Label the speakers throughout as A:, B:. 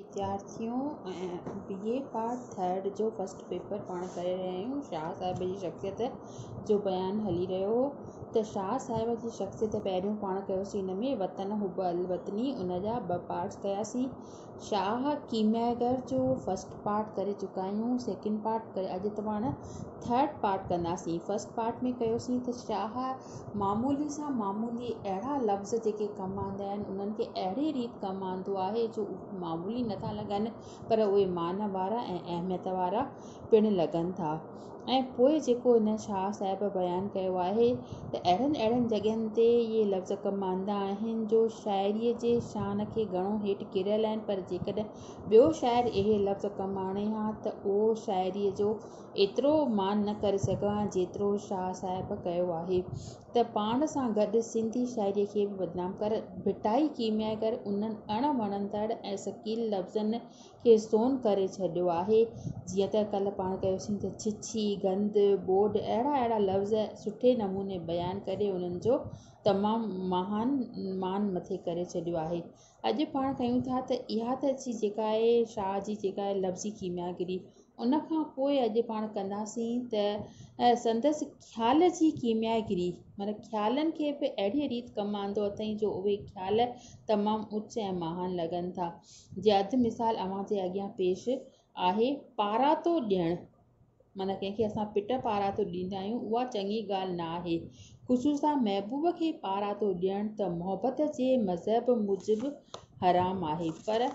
A: وڌيارٿيون B A part third جو first paper پاڻ ڪري رهيا آهيون شاهه صاحب جي شخصيت جو بيان هلي رهيو هو ته شاهه صاحب جي شخصيت پهريون پاڻ ڪيوسين ان ۾ وطن حب الوطني ان جا ٻه پارٽس ڪياسين شاهه ڪيمياگر جو فرسٽ پارٽ ڪري چڪا آهيون سيڪنڊ پارٽ ڪري اڄ پاڻ ٿرڊ پارٽ ڪنداسين فرسٽ پارٽ ۾ ڪيوسين ته شاهه معمولي سان معمولي اهڙا لفظ جيڪي ڪم آندا آهن انهن کي اهڙي ريت ڪم آندو آهي جو اهي معمولي نٿا لڳن پر اهي معنيٰ وارا ۽ اهميت وارا پڻ لڳن ٿا ۽ پوء جيڪو هن شاهه صاحب بيان ڪيو آهي ته اهڙن اهڙن جڳهين تي اهي لفظ ڪم آندا آهن جو شاعريء جي شان کي گهڻو هيٺ ڪيريل آهن پر جيڪڏهن ٻيو شاعر اهي لفظ ڪم آڻي ها ته اهو شاعريء جو ايترو مان نه ڪري سگهان ها جيترو شاهه صاحب ڪيو آهي ته پاڻ سان گڏ سنڌي شاعري کي به بدنام ڪري ڀٽائي ڪيمياگر انهن اڻ وڻندڙ ۽ ثقيل لفظن کي سون ڪري ڇڏيو آهي جيئن ته ڪلهه پاڻ ڪيوسين ته ڇڇي، گند، ٻوڏ اهڙا اهڙا لفظ سٺي نموني بيان ڪري انهن جو تمام مهان مان مٿي ڪري ڇڏيو آهي. اڄ پاڻ ڪيون ٿا ته اها ته اچي جيڪا آهي شاهه جي جيڪا آهي لفظي ڪيمياگري ان کان پوء اڄ پاڻ ڪنداسين ته سندس خيال جي ڪيمياگري معنيٰ خيالن کي به اهڙيء ريت ڪم آندو اٿائين جو اهي خيال تمام اچ ۽ مهان لڳن ٿا جي اڌ مثال اوهان جي اڳيان پيش آهي پاراتو ڏيڻ معنيٰ ڪنهن کي اسان پٽ پاراتو ڏيندا آهيون، اها چڱي ڳالهه نه آهي. خصوصان محبوب کي پاراتو ڏيڻ ته محبت جي مذهب موجب حرام آهي. پر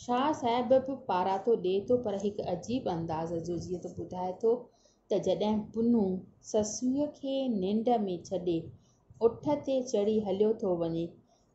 A: شاهه صاحب به پاراتو ڏئي ٿو پر هڪ عجيب انداز جو جيئن ته ٻڌائي ٿو ته جڏهن پنهون سسئيء کي ننڊ ۾ ڇڏي اٺ تي چڙهي هليو ٿو وڃي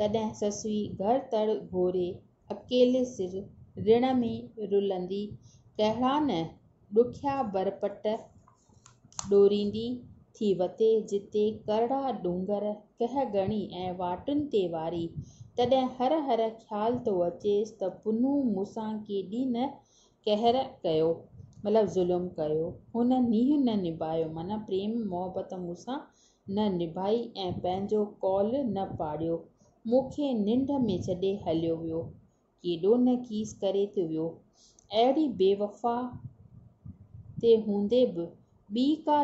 A: تڏهن سسئي گهر تڙ گهوري اڪيلي سر رڻ ۾ رلندي ڪهڙا نه ڏکيا برپٽ ڏوريندي ٿي وتي جتي ڪرڙا ڏونگر ڪهه گهڻي ۽ واٽن تي واري تڏهن هر هر خيال ٿو اچيس ته پنهون مون سان ڪيڏي نه قهر ڪيو مطلب ظلم ڪيو هن نينهن نه نڀايو معنيٰ پريم محبت مون سان نه نڀائي ۽ پنهنجو قول نه پاڙيو. مون کي ننڊ ۾ ڇڏي هليو ويو. ڪيڏو نه کيس ڪري ٿي ويو. اهڙي بيوفا تي هوندي به ٻي ڪا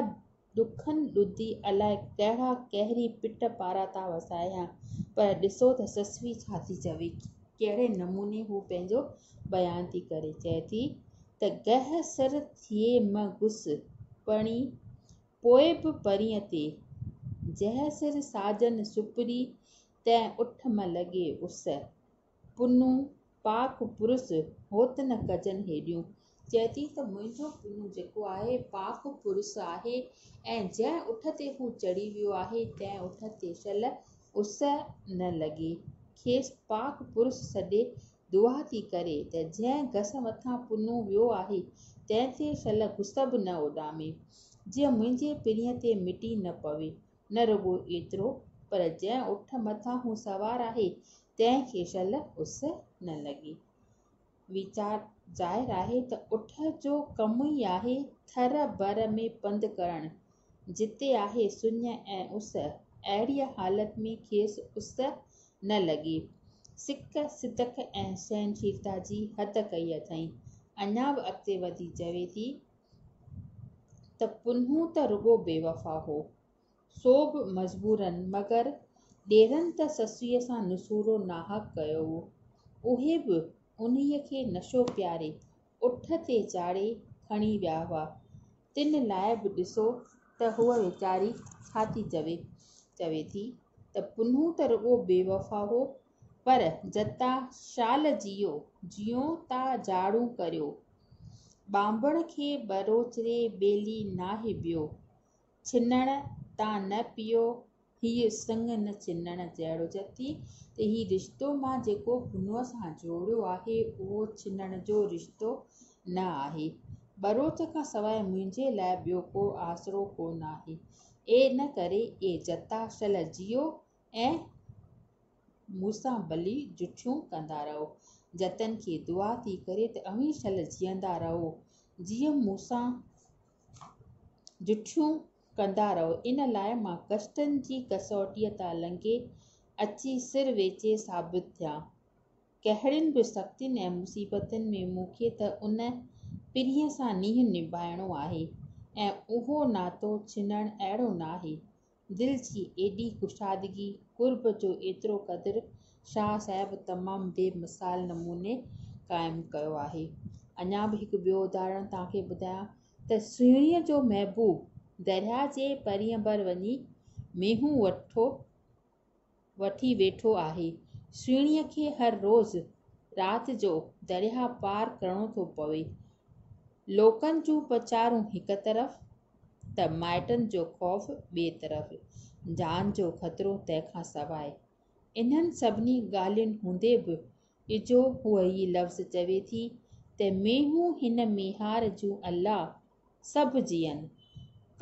A: ڏکن ڏڌي الاء ڪهڙا قهري پٽ پارا ٿا وسايان. پر ڏسو ته سسوي ڇا ٿي چوي. ڪهڙي نموني هو پنهنجو بيان ٿي ڪري. چئي ٿي ته گهه سر ٿئي م گس پڻي پوء به پرينء تي، جنهن سر ساجن سپري، تنهن اٺ م لڳي اس. پنو پاڪ پرس، هوت نه ڪجن هيڏيون. چئي ٿي ته منهنجو پنو جيڪو آهي، پاڪ پرس آهي ۽ جنهن اٺ تي هو چڙهي ويو آهي، تنهن اٺ تي شل، اس، نه لڳي. کيس پاڪ پرس سڏي دعا ٿي ڪري ته جنهن گس مٿان پنو ويو آهي، تنهن تي شل گس به نه اڏامي، جيئن منهنجي پرينء تي مٽي نه پوي. نه رڳو ايترو، پر جنهن اٺ مٿان هو سوار آهي، تنهن کي شل اس نه لڳي. ويچار، ظاهر آهي ته اٺ جو ڪم ئي آهي ٿر بر ۾ پنڌ ڪرڻ، جتي آهي سڃ ۽ اس، اهڙيء حالت ۾ کيس اس نه لڳي. سڪ، صدق ۽ سهنشيلتا جي حد ڪئي اٿئين. اڃا به اڳتي وڌي چوي ٿي ته پنهون ته رڳو بيوفا هو، سو به مجبوراً، مگر ڏيرن ته سسئيء سان نسورو ناحق ڪيو هو، اهي به انهيء کي نشو پياري، اٺ تي چاڙهي کڻي ويا هئا. تن لاء به ڏسو ته هوء ويچاري ڇا ٿي چوي. چوي ٿي ته پنهون ته رڳو بيوفا هو پر جتا شال جيو جيون تا جاڙون ڪريو. ٻانڀڻ کي ٻروچري ٻيلي ناهي ٻيو. ڇنڻ تان نه پيو هيء سڱ نه چنڻ جهڙو جتي ته هي رشتو مان جيڪو پنهونء سان جوڙيو آهي، اهو چنڻ جو رشتو نه آهي. ٻروچ کان سواء منهنجي لاء ٻيو ڪو آسرو ڪو نه آهي. ان ڪري اي جتا، شل جيئو ۽ مون سان ڀلي جٺيون ڪندا رهو. جتن کي دعا ٿي ڪري ته اوهين شل جيئندا رهو، جيئن مون سان جٺيون ڪندا رهو ان لاء مان ڪشتن جي ڪسوٽيء تان لنگهي اچي سر ويچي ثابت ٿيا. ڪهڙين به سختين ۽ مصيبتن ۾ مون کي ته ان پرينء سان نينهن نڀائڻو آهي ۽ اهو ناتو ڇنڻ اهڙو ناهي. دل جي ايڏي ڪشادگي، قرب جو ايترو قدر شاهه صاحب تمام بي مثال نموني قائم ڪيو آهي. اڃا به هڪ ٻيو اداهرڻ توهان کي ٻڌايان. ته سهڻيء جو محبوب درياء جي پرينء بر وڃي مينهون وٺو وٺي ويٺو آهي. سهڻيء کي هر روز رات جو درياء پار ڪرڻو ٿو پوي. لوڪن جون پچارون هڪ طرف ته مائٽن جو خوف ٻئي طرف. جان جو خطرو تنهن کان سواء. انهن سڀني ڳالهين هوندي به اجهو هوء هي لفظ چوي ٿي ته مينهون هن ميهار جون الله سڀ جيئن،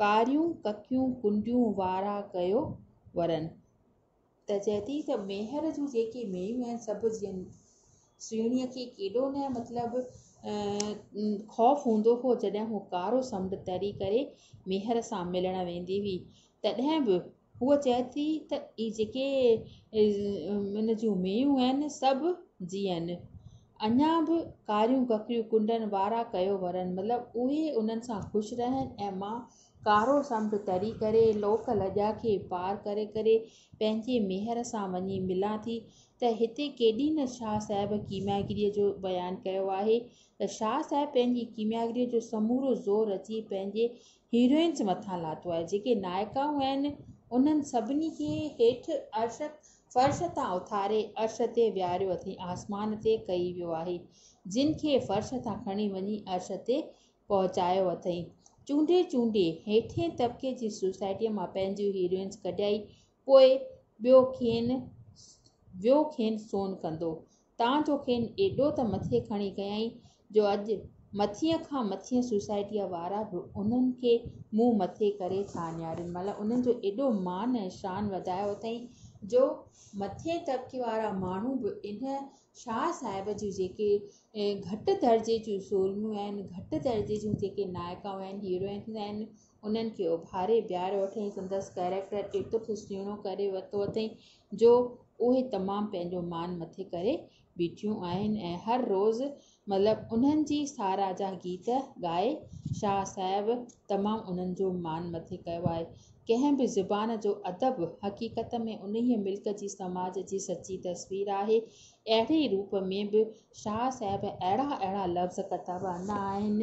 A: ڪاريون ڪڪيون ڪنڊيون وارا ڪيو ورن. ته چئي ٿي ته ميهر جون جيڪي مينهون آهن سڀ جيئن. سهڻيء کي ڪيڏو نه مطلب خوف هوندو هو جڏهن هوء ڪارو سمنڊ تري ڪري ميهر سان ملڻ ويندي هئي تڏهن به هوء چئي ٿي ته اهي جيڪي ان جون ميون آهن سڀ جيئن اڃا به ڪاريون ڪڪريون ڪنڊن وارا ڪيو ورن مطلب اهي انهن سان خوش رهن ۽ مان ڪارو سمنڊ تري ڪري لوڪ لڄا کي پار ڪري ڪري پنهنجي ميهر سان وڃي ملان ٿي ته هتي ڪيڏي نه شاهه صاحب ڪيمياگريء جو بيان ڪيو آهي ته شاهه صاحب پنهنجي ڪيمياگريء جو سمورو زور اچي پنهنجي هيروئنز مٿان لاٿو آهي، جيڪي نائڪائون آهن، انهن سڀني کي هيٺ عرش، فرش، تان اٿاري عرش تي ويهاريو اٿئي، آسمان تي ڪئي ويو آهي، جن کي فرش تان کڻي وڃي عرش تي پهچايو اٿئي. چونڊي چونڊي هيٺين طبقي جي سوسائٽيء مان پنهنجيون هيروئنز ڪڍيائي، پوء ٻيو ڪين ويو کين سون ڪندو، تان جو کين ايڏو ته مٿي کڻي ڪيائين جو اڄ مٿينء کان مٿينء سوسائٽيء وارا به انهن کي منهن مٿي ڪري ٿا اڃارين مطلب انهن جو ايڏو مان ۽ شان وڌايو اٿئين جو مٿين طبقي وارا ماڻهو به انهن شاهه صاحب جون جيڪي گهٽ درجي جون سورميون آهن گهٽ درجي جون جيڪي نائڪائون آهن هيروئنز آهن انهن کي اڀاري بيهاريو اٿئين، سندس ڪئريڪٽر ايترو ته سهڻو ڪري ورتو اٿئين جو اهي تمام پنهنجو مان مٿي ڪري بيٺيون آهن ۽ هر روز مطلب انهن جي ساراهه جا گيت ڳائي شاهه صاحب تمام انهن جو مان مٿي ڪيو آهي. ڪنهن به زبان جو ادب حقيقت ۾ انهيء ملڪ جي سماج جي سچي تصوير آهي اهڙي ئي روپ ۾ به شاهه صاحب اهڙا اهڙا لفظ ڪتب آندا آهن،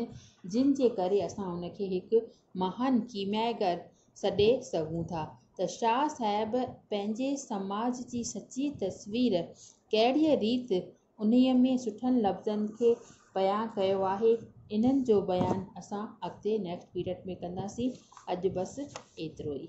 A: جن جي ڪري اسان هن کي هڪ مهان ڪيمياگر سڏي سگهون ٿا ته شاهه صاحب پنهنجي سماج جي سچي تصوير ڪهڙيء ريت انهيء ۾ سٺن لفظن کي بيان ڪيو آهي، انهن جو بيان اسان اڳتي Next Period ۾ ڪنداسين. اڄ بس ايترو ئي.